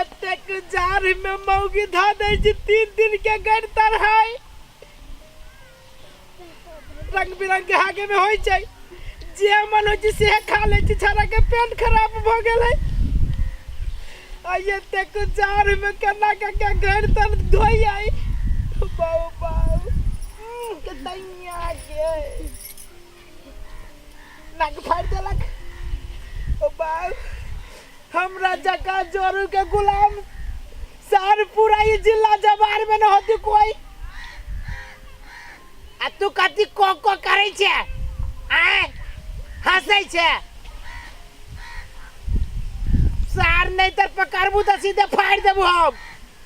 एतेक जाड़ में मौगी धा दे छी तीन दिन के गड़ तरहाई रंग बिरंग के हागे में होई छै जे मन होई छै से खा ले छी छाड़ा के पेट खराब भ गेल है आ एतेक जाड़ में केना के के गड़ तर धोई आई बाऊ बाऊ कतैया गे नाक फाड़ देलक ओ बाप हमरा जका जोरू के गुलाम सार पूरा ई जिला जवार में न होती कोई आ तू कथी को को करै छे आय हंसै छे सार नहीं तर पकड़बू तो सीधे फाड़ देबू हम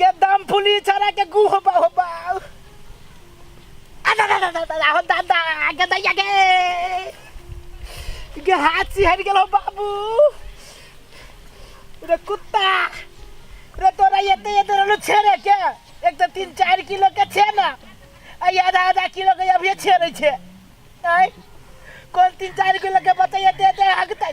गे दम फुली छड़ा के गु हो बा हो बा अदा दा दा दा दा हो दा दा गे दैया गे गे हाथ सिहर गेल हो बाबू रे कुत्ता रे तोरा एते एते रहलो छेड़े के एक तो तीन चार किलो के छे ना आ ई आधा आधा किलो के अभी छेड़े छे आय कौन तीन चार किलो के बताइए दे दे हगतै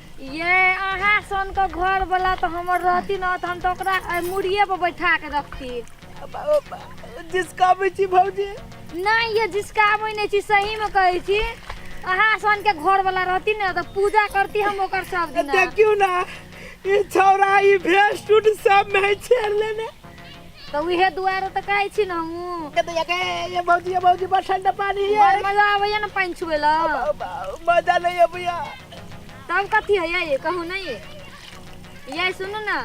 ये अहाँ सनके घरवला तऽ हमर रहती ने तऽ हम तऽ ओकरा एहि मुड़िए पर बैठा के रखती जिसकाबै छी भौजी नहि ये जिसकाबै नहि छी सहीमे कहै छी अहाँ सनके घरवला रहती ने तऽ पूजा करती हम ओकर सब दिन देखियौ ने ई छौड़ा ई भेस्ट उट सब में छेड़ लेने तऽ उहे दुआरे तऽ कहै छी ने हमहूँ के दैया के ये भौजी ये भौजी बड़ ठंडा पानी है बड़ मजा आबैया ने पानि छुए ला मजा नहीं है भैया तब कथी है ये कहू नहीं ये सुनू ना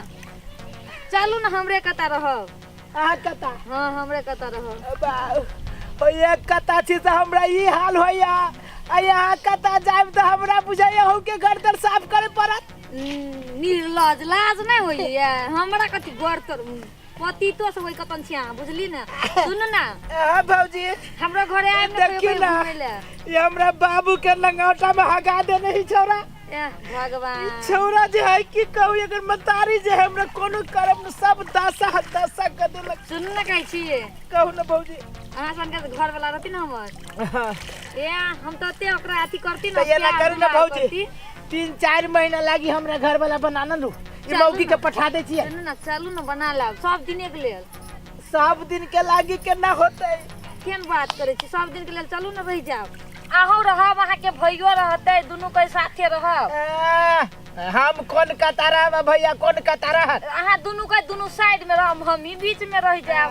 चलू ना हमरे कता रहब आहा कता हाँ हमरे कता रहब बा ओ ये कता छी तो हमरा ई हाल होया आ यहाँ कता जाब तो हमरा बुझाइया हो के घर तर साफ करे पड़त निर्लज लाज नहि होइए हमरा कथी गर तर पतितो से होई कतन छिया बुझली ना सुन ना हाँ भौजी हमरा घरे आइब ना देखी कहियो ना। घुमय ले ये हमरा बाबू के लंगाटा में हगा देने ही छोरा एह, भगवान छोरा जे है की कहू अगर मतारी जे है हमरा कोनो करम न सब दासा है दासा कर देलक सुन ना कहै छी कहू ना भौजी अहाँ सन के घर वाला रहती ना हमर हाँ। ए हम तो ते ओकरा अथी करती ना तो ये ना प्यार करू ना दुलार भौजी। करती। तीन चारि महीना लागी हमरा घर वाला बनाना लू ई चलू मौगी के ना। पठा दै छियै चलू ना चलू ना बना लाब सब दिने के लेल सब दिन के लागी केना होतै केन बात करै छी सब दिन के लेल चलू ना रहि जाब अहूँ रहब अहाँके भैयो रहतै दुनू के साथे रहब आ, हम कोन कतारा में भैया कोन कतारा हन अहाँ दुनू के दुनू साइड में रहब हमही बीच में रहि जाब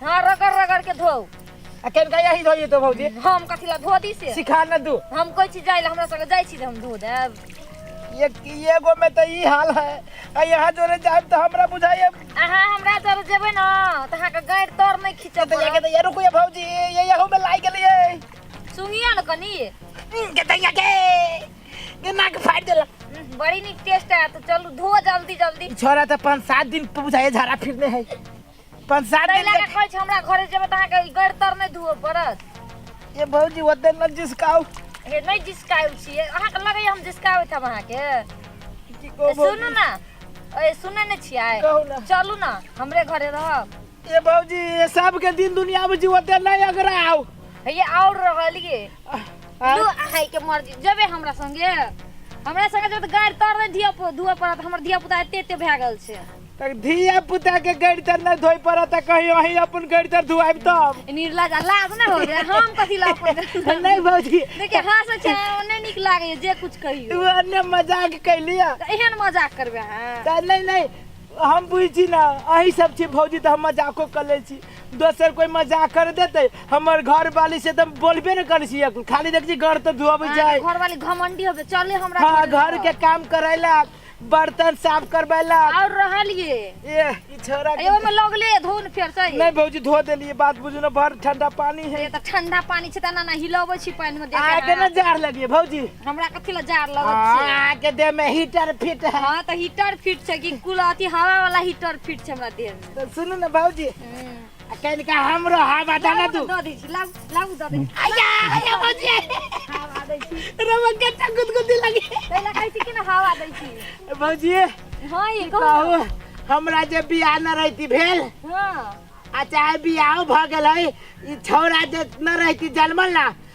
हाँ रगड़ रगड़ के धो अकेले का यही धोइए तो भौजी हम कथी ला धो दी से सिखा न दू हम कोई चीज जाइला हमरा संगे जाइ छी जे हम धो देब ये ये गो में तो ई हाल है आ यहाँ जोरे जाए तो हमरा बुझाइए अहाँ हमरा जब जेबै न त अहाँके गाँठ तर नहि खींचऽ तो यहाँ के तो ये रुको ये भौजी ये यहाँ में लाई गेली है सुनिए न कनी के तो यहाँ के ये नाक फाड़ देला उम्, बड़ी नीक टेस्ट आयत चलू धो जल्दी जल्दी छोरा तो पाँच सात दिन बुझाइए झाड़ा फिरने है पाँच सात तै दिन लगा कहै छै हमरा घरे जेबै तऽ अहाँके गड़ तर नहि धुअ पड़त के- ये भौजी ओते न जिसकाउ हे नहि जिसकाउ छियै अहाँके लगैए हम जिसकाबैत हम अहाँके की ए, कहो सुनू भौजी ने ए सुनै नहि छियै कहू ने। चलू ने हमरे घरे रहब ये भौजी ये सब के दिन दुनिया में जी ओते नहीं अगराउ हे आओर रहलिए आँय? लू अहाँके मर्जी जेबै हमरा संगे हमरा संगे जेबै तऽ गाड़ी तर नहि धुअ धुअ पड़त हमर धिया पुता एते एते भए गेल छै तक धिया पुता के गड़ी तर न धोई पड़ा त कहीं वही अपन गड़ी तर धुआब तब निर्लज आ लाज ना हो जाए हम कथी ला अपन नहीं भौजी देखिए हंस छै ओने नीक लागे जे कुछ कहियो तू अन्य मजाक कैलिया त एहन मजाक करबे हां त नहीं नहीं हम बुझी ना अही सब छी भौजी त हम मजाको कर ले छी दोसर कोई मजाक कर देते हमर घर वाली से त बोलबे न कर छी खाली देख छी घर त धुआब जाए घर वाली घमंडी होबे चले हमरा हाँ घर के काम करेला बर्तन साफ करबै ला और रहल ये ए ई छोरा के- अयो में लगले धुन फेर से नहीं भौजी धो देलिए बात बुझू ना भर ठंडा पानी है ये त ठंडा पानी छै त ना ना हिलाबै छी पानी में देख आगे ना जार लगिए भौजी हमरा कथि ल जार लगत छै आगे दे में हीटर फिट है हां त हीटर फिट छै कि कुल अथी हवा वाला हीटर फिट छै हमरा देह में तो सुनू ना भौजी हम्म। आ कहीं का हमरो हाँ बता ना तू दऽ दै छी लाउ लाउ दऽ दै छी आया आया बजे हवा दै छी रवा कच्चा गुदगुदी लगी तै लऽ कहै छी कि ना हवा दै छी भौजी हां ये कहू कहू हमरा जे बियाह न रहती भेल हां आ चाहे बियाह भ गेल है ई छौरा जे न रहती जन्मल ना